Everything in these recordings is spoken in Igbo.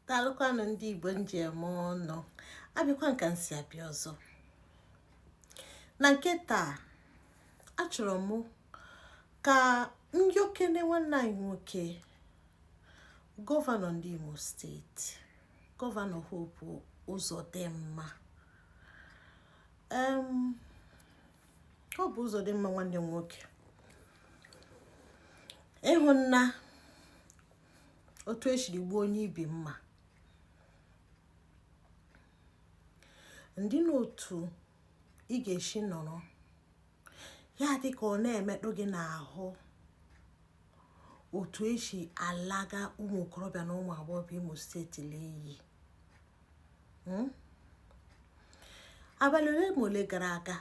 daalụkwanụ ndị igbo m ji eme ọnụ abịakwa m ka m si abịa ọzọ na nke taa achọrọ m ka m yọọkene nwanne anyị nwoke gọvanọ ndị imo steeti gọvanọ hope uzodinma hope uzodinma nwanne m nwoke ị hụna otu esiri gbuo onye ibi mma ndị n'otu ị ga-esi nọrọ ya dị ka ọ na-emetụ gị n'ahụ otu esi alaga ụmụ okorobịa na ụmụ agbọghọ imo steeti n'iyi hmm? abalị ole ma ole gara aga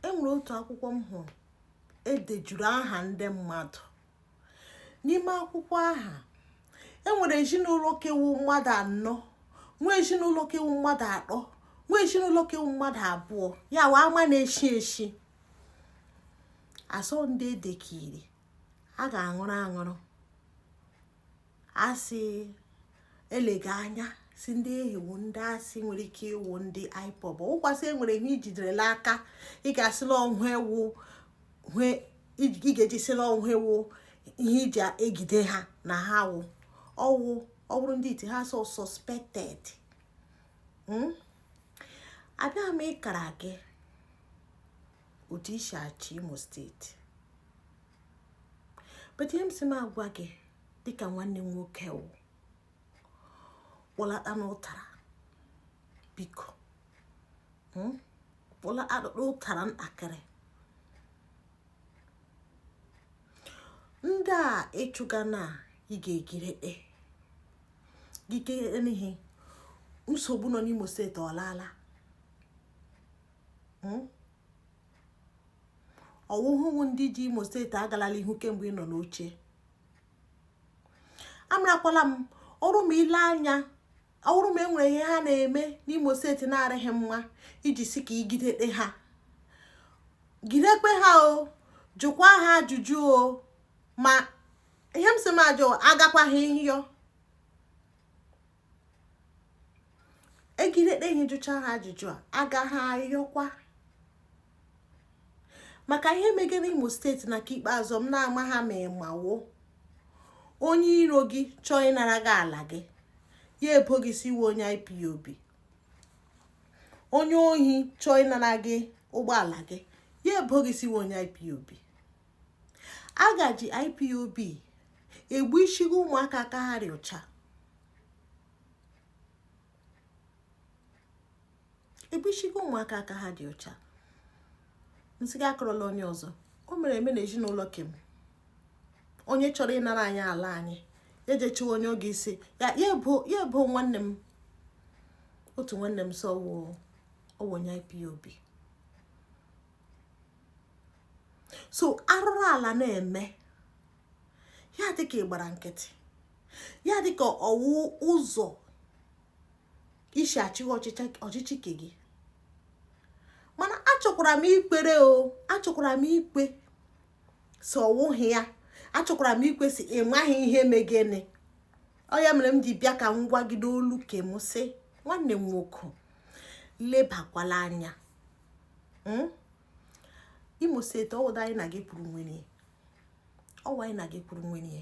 enwere otu akwụkwọ m hụrụ edejuru aha ndị mmadụ n'ime akwụkwọ ahụ e nwere ezinụlọ ke wụ mmadụ anọ nwee ezinụlọ ke wụ mmadụ atọ nwee ezinụlọ ke wụ mmadụ abụọ ya wụ ama na-eshi eshi a sị ọ ndị edekiri a ga-anwụrụ anwụrụ asị eleghị anya sị ndị ahụ wụ ndị asị nwere ike ịwụ ndị ipob ụkwasị enwere ihe ijiderela aka ị ga-asịla ọhụ ewu ị ga-eji sịla ọhụ ewu ihe iji egide ha na ha wụ ọwụ ọ bụrụ ndị iti ha so suspected hmm? abịa m ịkara gị otu ị si achị imo steeti but ihe m si m agwa gị dịka nwanne m nwoke wụ kpọlata n'ụtara biko hmm? kpọlata n'ụtara ntakịrị ndị a ị chụga na ị ga-egidete gị kere n'ihe nsogbu nọ n'imo steeti ọlaala hmm? ọ wụhụ ndị ji imo steeti agalala ihu kemgbe ị nọ n'oche amarakwala m ọ wụrụ ma eleghị anya ọ wụrụ ma enwere ihe ha na-eme n'imo steeti na-arịghị mma iji si ka e gidekpe ha gidekpe ha o jụkwa ha ajụjụ o ma ihe m si m ajụ agakwaghị nhịọ e gidekpe ha jụcha ha ajụjụ ha agaghị ayọkwa maka ihe megara imo steeti na nke ikpeazụ na amaha m ma ị ma o onye iro gị chọọ ịnara gị ala gị ya ebo gị sị ị wụ onye ipob onye ohi chọọ ịnara gị ụgbọala gị ya ebo gị sị ị wụ onye ipob a ga-eji ipob egbu ishigo ụmụaka aka ha dị ọcha egbu ishigo ụmụaka aka ha dị ọcha m sị gị akọrọla onye ọzọ o mere eme na ezinụlọ ke m onye chọrọ ịnara anyị ala anyị ya ejechiwa onye oge isi ya ebo nwanne m otu nwanne m sị ọ wụ onye ipob so arụrụ ala na-eme ya dị ka ị gbara nkịtị ya dị ka ọ wụ ụzọ i si achịgha ọchịchị ke gị mana achọkwara m ikwere o achọkwara m ikwe sị ọ wụghị ya achọkwara m ikwe sị ị maghị ihe megene ọ ya mere m ji bịa ka m gwa gị n'olu ke m sị nwanne m nwoke lebakwala anya hmm? imo steeti ọwụda anyị na gị kwuru nwere ọ wụ anyị na gị kwuru nwere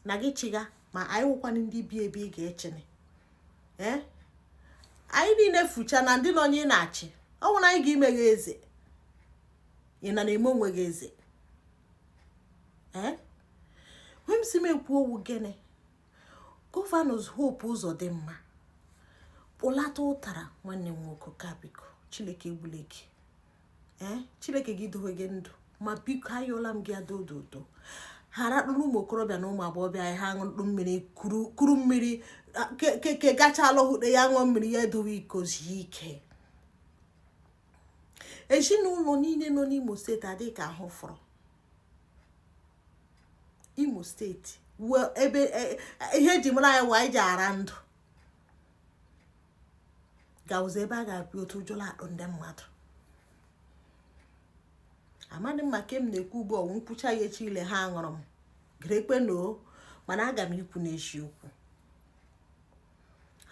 na gị chịga ma anyị wụkwana ndị bi ebe ị ga-achịnị ee eh? anyị niile fucha na ndị nọ onye ị na-achị ọ wụ na anyị ga-ime gị eze ị na na-eme onwe gị eze ee eh? m si m ekwu ọ wụ gịnị gọvanọs hope uzodinma kpụlata ụtara nwanne m nwoke ka biko chineke egbule gị ee chineke gị dowe gị ndụ ma biko ayọla m gị adododo harapụrụ ụmụ okorobịa na ụmụ agbọghọbịa anyị ha ṅụrụ mmiri kuru mmiri keke gachala hụde ya ṅụọ mmiri ya edowe iko zie ike ezinụlọ niile nọ n'imo steeti adịghị ka ahụ fọrọ imo steeti ebe e, e, ihe e ji mara anyị wụ iji ara ndụ ga-awụzi ebe a ga-abịa otu ụjọ la-atụ ndị mmadụ amadị m ma ka m na-ekwu ugbu ọ wụ m kwucha ya echi ile ha anwụrụ m grekwe na o mana aga m ikwu n'eziokwu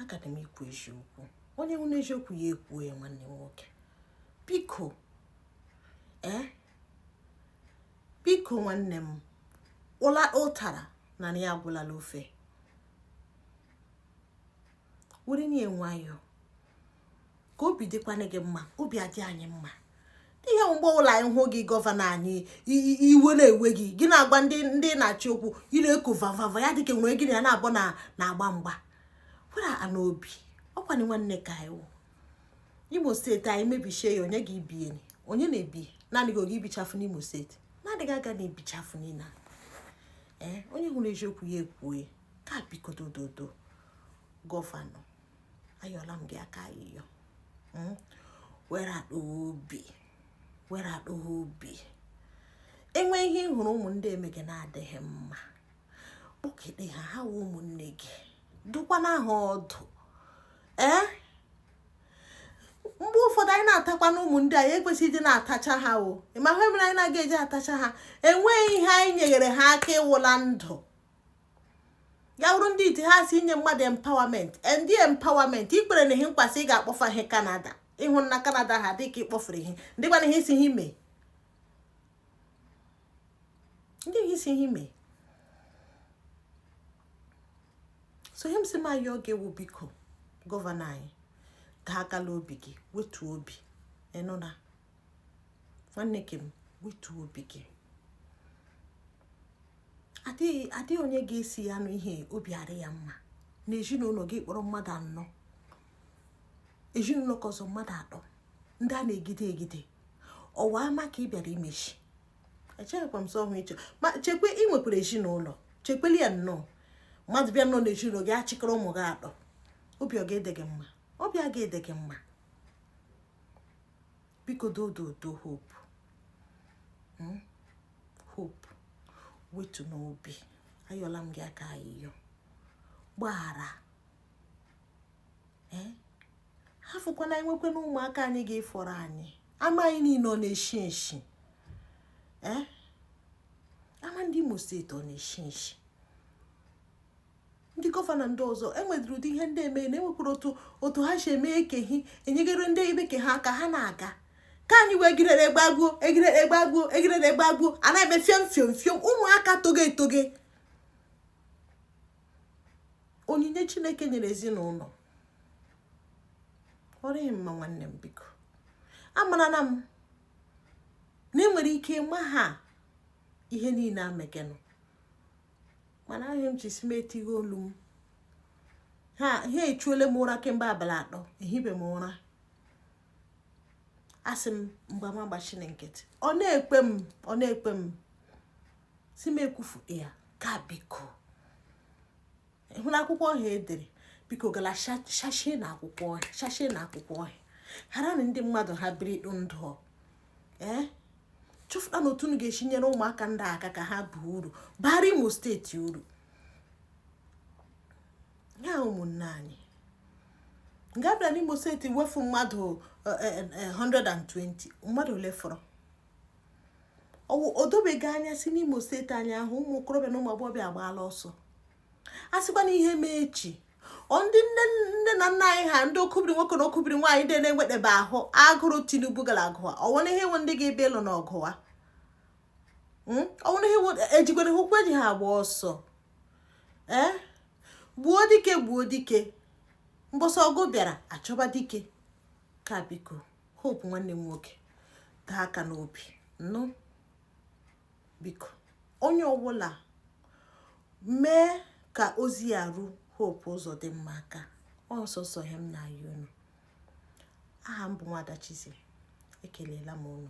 aga m ikwu eziokwu onye hụna eziokwu ya ekwuo ya nwanne m nwoke biko ee eh? biko nwanne m ụla ụtara na ya agwụlala ofe were ya nwayọọ ka obi dịkwana gị mma obi adị anyị mma ihe mgbe ọla anyị hụ gị gọvanọ anyị iwe na-ewe gị gị na-agwa ndị ị na-achị okwu ị na-eko vavava ya dịka onye gị na ya na-abụ na-agba mgba kwara n'obi ọ kwanụ nwanne ka anyị imo steeti anyị mebishie ya onye ga-ebi enyi onye na-ebi naanị gị ga-ebichafụ n'imo steeti na-adịghị aga na ebichafụ niile ee eh, onye hụrụ eziokwu ya ekwue ka biko dododo gọvanọ ayọla m gị aka ayịyọ hmm? wedata obi wedata obi enwe ihe ị hụrụ ụmụ ndị emege na-adịghị mma kpọkete ha ha wụ ụmụnne gị dụkwana ha ọdụ ee mgbe ụfọdụ anyị na-atakwa na ụmụ ndị anyị ekwesịghị ịdị na-atacha ha ị ma ihe mere anyị na-aga eji atacha ha enweghị ihe anyị nyegere ha aka ịwụ na ndụ ya wụrụ ndị iti ha si inye mmadụ empowerment ndị empowerment i kwere ha nkwa sị ị ga-akpọfe ha kanada ị hụna kanada ha dịka ị kpọfere ihe ndị gbana ihe isi ha ime ndị gị si ihe mee so ihe m si ma ya oge ewu biko gọvanọ anyị ka akala obi gị wetu obi ị nụna nwanne ke m wetu obi gị adịghị onye ga-esi ya nụ ihe obi adị ya mma na ezinụlọ gị kpọrọ mmadụ anọ ezinụlọ ke ọzọ mmadụ atọ ndị a na-egide egide ọ wụ ama ka ị bịara imechi echeghịkwa m sọ ọhụ ịchọ ma chekwa ị nwekwara ezinụlọ chekweli ya nnọọ mmadụ bịa nọ n'ezinụlọ gị achịkọrọ ụmụ gị atọ obi ọ ga-adị gị mma obi a ga-adị gị mma biko dododo hope hmm? hope wetunụ obi ayọla m gị aka ayịyọ gbaghara hafụkwana enwekwe na ụmụaka anyị ga-efọrọ anyị ama anyị niile ọ na-eshi eshi ee ama ndị imo steeti ọ na-eshi eshi ndị gọvanọ ndị ọzọ enwedịrị ụdị ihe ndị eme na enwekwara otu otu ha si eme ekehi enyegere ndị ibe ke ha aka ha na-aga ka anyị wee egirere gbagbuo egirere gbagbuo egirere gbagbuo a na-eme fiom fiom fiom ụmụaka toge etoge onyinye chineke nyere ezinụlọ ọ dịghị mma nwanne m biko amarala m na ị nwere ike ịma ha ihe niile emegenụ mana ihe m ji si m etighe olu m ha ha echuole m ụra kemgbe abalị atọ ehibe m ụra asị m mgbe m agbachina nkịtị ọ na-ekpe m ọ na-ekpe m si m ekwufu ya ka biko hụrụ akwụkwọ ọhịa e dere biko gala shashie na akwụkwọ ọhịa shashie na akwụkwọ ọhịa haranụ ndị mmadụ ha biri dị ndụ ee eh? chọfụtanụ otu unu ga-esi nyere ụmụaka ndị aka ka ha baa uru bara imo steeti uru ya ụmụnne anyị nga-abịa n'Imo steeti wefu mmadụ 120 eh, eh, eh, mmadụ ole fọrọ o dobeghị anya sị n'Imo steeti anyị ahụ ụmụ okorobịa na ụmụ agbọghọbịa agbaala ọsọ a sịkwa na ihe mee echi ọ ndị nne nne na nna anyị ha ndị okibiri nwoke na okibiri nwaanyị ndị na-enwetebe ahụ agụrụ Tinubu gara agụwa ọnwere ihe nwe ndị ga-abịa ịlụ n'ọgụ a ọnwere ihe ejigwere hụkwa eji ha agba ọsọ e gbuo dike gbuo dike mbọsị ọgụ bịara achọba dike ka biko Hope nwanne m nwoke taa aka n'obi nụ biko onye ọbụla mee ka ozi a ruo Hope Uzodimma aka ọ sọsọ ihe m na-ayọ unu aha m bụ Nwada Chizzy ekelela m unu